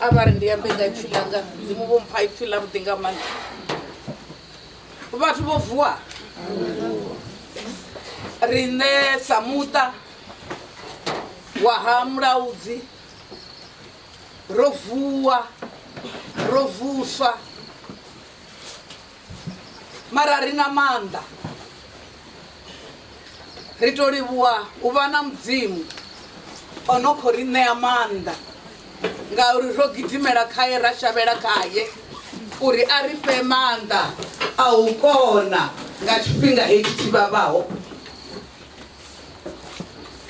a vha ri ndi ambe nga ipfi ḽanga mudzimu vho mpha ipfi ḽa vhuḓi nga maanḓa vhathu vho vuwa riṋe sa muṱa wa ha mulaudzi ro vuwa ro vuswa mara ri na maanḓa ri to livhuwa u vha na mudzimu o no khou ri ṋea maanḓa ngauri ro gidimela khaye ra shavhela khaye uri a ri fhe maanḓa a u kona nga tshifhinga hetshi tshi vhavhaho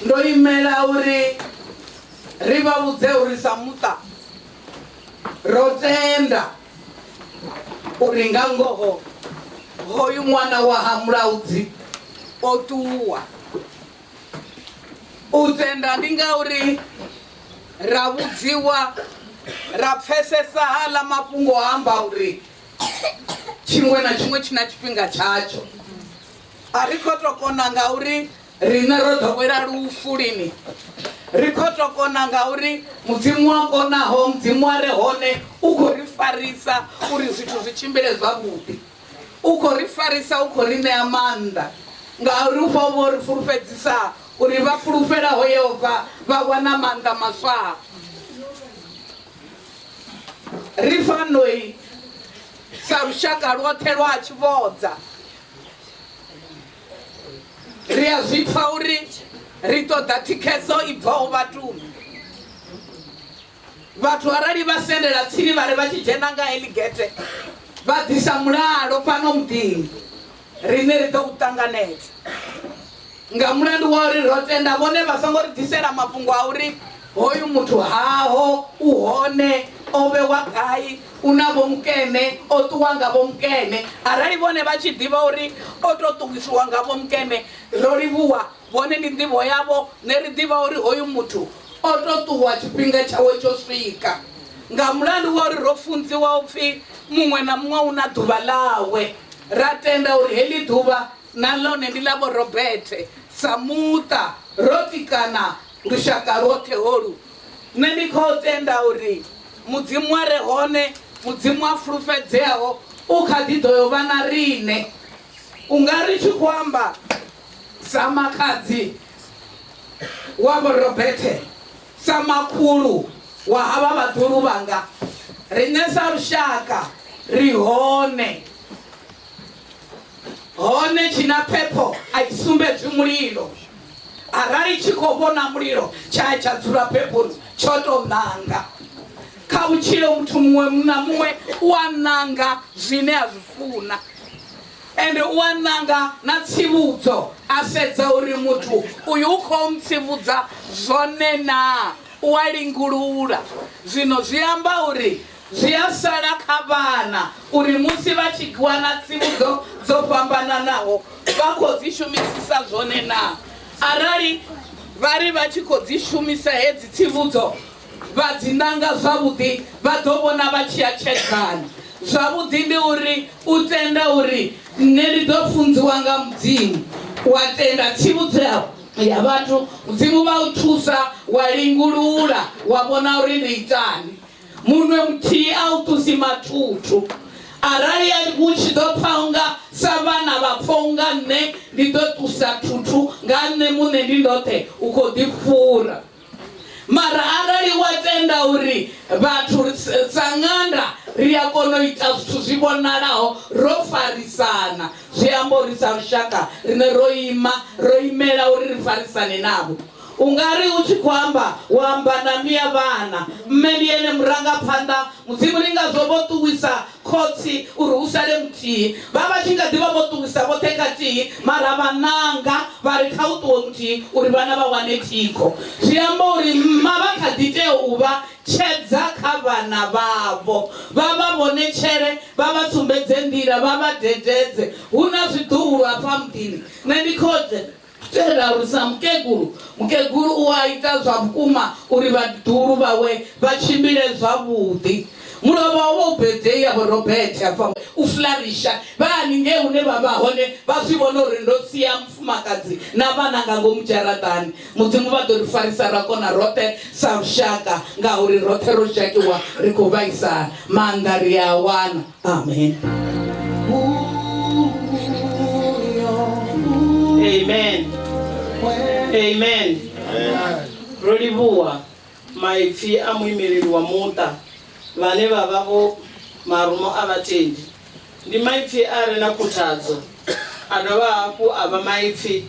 ndo imela uri ri vha vhudze uri sa muṱa ro tenda uri nga ngoho hoyu ṅwana wa ha mulaudzi o ṱuwa u tenda ndi ngauri ra vhudziwa ra pfesesa haḽa mafhungo a amba uri tshiṅwe na tshiṅwe tshi na tshifhinga tshatsho a ri kho to kona ngauri Riṋe ro ḓowela lufu lini ri khou tou kona ngauri mudzimu wa konaho mudzimu wa re hone u khou ri farisa uri zwithu zwi tshimbile zwavhuḓi u khou ri farisa u khou ri ṋea maanḓa ngauri u fha vho ri fulufhedzisa uri vha fulufhelaho yehova vha wana maanḓa maswa ri fanoi sa lushaka lwoṱhe lwa tshivhodza Ri a zwi pfa uri ri ṱoḓa thikhedzo i bvaho vhatuni. Vhathu arali vha sendela tsini vha ri vha tshi dzhena nga heḽi gete vha ḓisa mulalo fhano muḓini, riṋe ri ḓo u ṱanganedza. Nga mulandu wa uri ro tenda vhone vha songo ri ḓisela mafhungo a uri hoyu muthu haho, u hone, o vhewa gai, U na vhomukene, o ṱuwa nga vhomukene. Arali vhone vha tshi ḓivha uri o tou ṱuwisiwa nga vhomukene, ro livhuwa vhone ndi nḓivho yavho. Nṋe ri ḓivha uri hoyu muthu o tou ṱuwa tshifhinga tshawe tsho swika, nga mulandu wa uri ro funziwa u pfi muṅwe na muṅwe u na ḓuvha ḽawe, ra tenda uri heḽi ḓuvha na ḽone ndi ḽa Vho Robert. Sa muṱa, ro tikana lushaka lwoṱhe holu. Nṋe ndi khou tenda uri Mudzimu a re hone, Mudzimu a fulufhedzeaho, u kha ḓi ḓo yo vha na riṋe. U nga ri tshi khou amba sa makhadzi wa Vho Robethe, sa makhulu wa havha vhaḓuhulu vhanga, riṋe sa lushaka ri hone. hone tshinaphepho a i sumbedzi mulilo arali tshi khou vhona mulilo tsha tsha dzula phephoni tsho tou ṋanga kha vhutshilo muthu muṅwe na muṅwe u a ṋanga zwine a zwi funa ende u a ṋanga na tsivhudzo a sedza uri muthu uyu u khou ntsivhudza zwone naa u a lingulula zwino zwi amba uri Zwi a sala kha vhana uri musi vha tshi wana tsivhudzo dzo fhambananaho vha khou dzi shumisisa zwone naa. Arali vha ri vha tshi khou dzi shumisa hedzi tsivhudzo vha dzi nanga zwavhuḓi, vha ḓo vhona vha tshi atshedzana. Zwavhuḓi ndi uri u tenda uri nṋe ndi ḓo funziwa nga Mudzimu, wa tenda tsivhudzo ya ya vhathu, Mudzimu vha u thusa, wa lingulula, wa vhona uri ndi itani. munwe muthihi a u ṱusi mathuthu arali u tshi ḓo pfa unga sa vhana vha pfa unga nṋe ndi ḓo ṱusa thuthu nga nṋe muṋe ndi ndoṱhe u khou ḓi fhura mara arali wa tenda uri vhathu sa ṅanda ri a kona u ita zwithu zwi vhonalaho ro farisana zwi amba uri sa lushaka rine ro ima ro imela uri ri farisane navho U nga ri u tshi khou amba, wa amba na mme ya vhana. Mme ndi ene murangaphanḓa. Mudzimu ndi ngazwo vho ṱuwisa khotsi uri hu sale muthihi. Vha vha tshi nga ḓi vha vho ṱuwisa vhoṱhe khathihi, mara vha ṋanga vha ri kha hu ṱuwe muthihi uri vhana vha wane thikho. Zwi amba uri mma vha kha ḓi tea u vha tshedza kha vhana vhavho, vha vha vhonetshele, vha vha sumbedze nḓila, vha vha dededze. Hu na zwiḓuhulu hafha muḓini. Nṋe ndi khotsi. Tshe ra alusa mukegulu, mukegulu u a ita zwa vhukuma uri vhaḓuhulu vhawe vha tshimbile zwavhuḓi. Mulovha wo vha u birthday ya Vho Robert a bvaho u Flarisha. Vha haningei hune vha vha hone vha zwi vhona uri ndo sia mufumakadzi na vhana nga ngomu dzharaṱani. Mudzimu vha ḓo ri farisa ra kona roṱhe sa lushaka ngauri roṱhe ro dzhakiwa ri khou vhaisala. Maanḓa ri a a wana. Amen. Amen. Amen. Ro livhuwa maipfi a muimeleli wa muṱa vhane vha vha vho marumo a vhatendi. Ndi maipfi a re na khuthadzo, a dovha hafhu a vha maipfi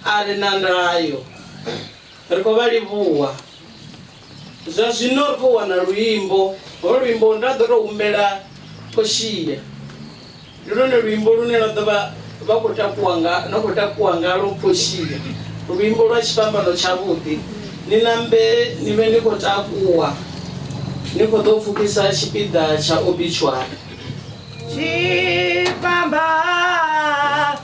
a re na ndayo. Ri khou vha livhuwa. Zwa zwino ri khou wana luimbo. Ho luimbo nda ḓo tou humbela Portia. Ndi lwone luimbo lune lwa ḓo vha vha khou takuwa nga na khou takuwa ngalo Portia. Luimbo lwa tshifhambano tshavhuḓi. Ni nambe ni vhe ni khou takuwa ni khou ḓo pfukisa tshipiḓa tsha obituary. Tshifhambano.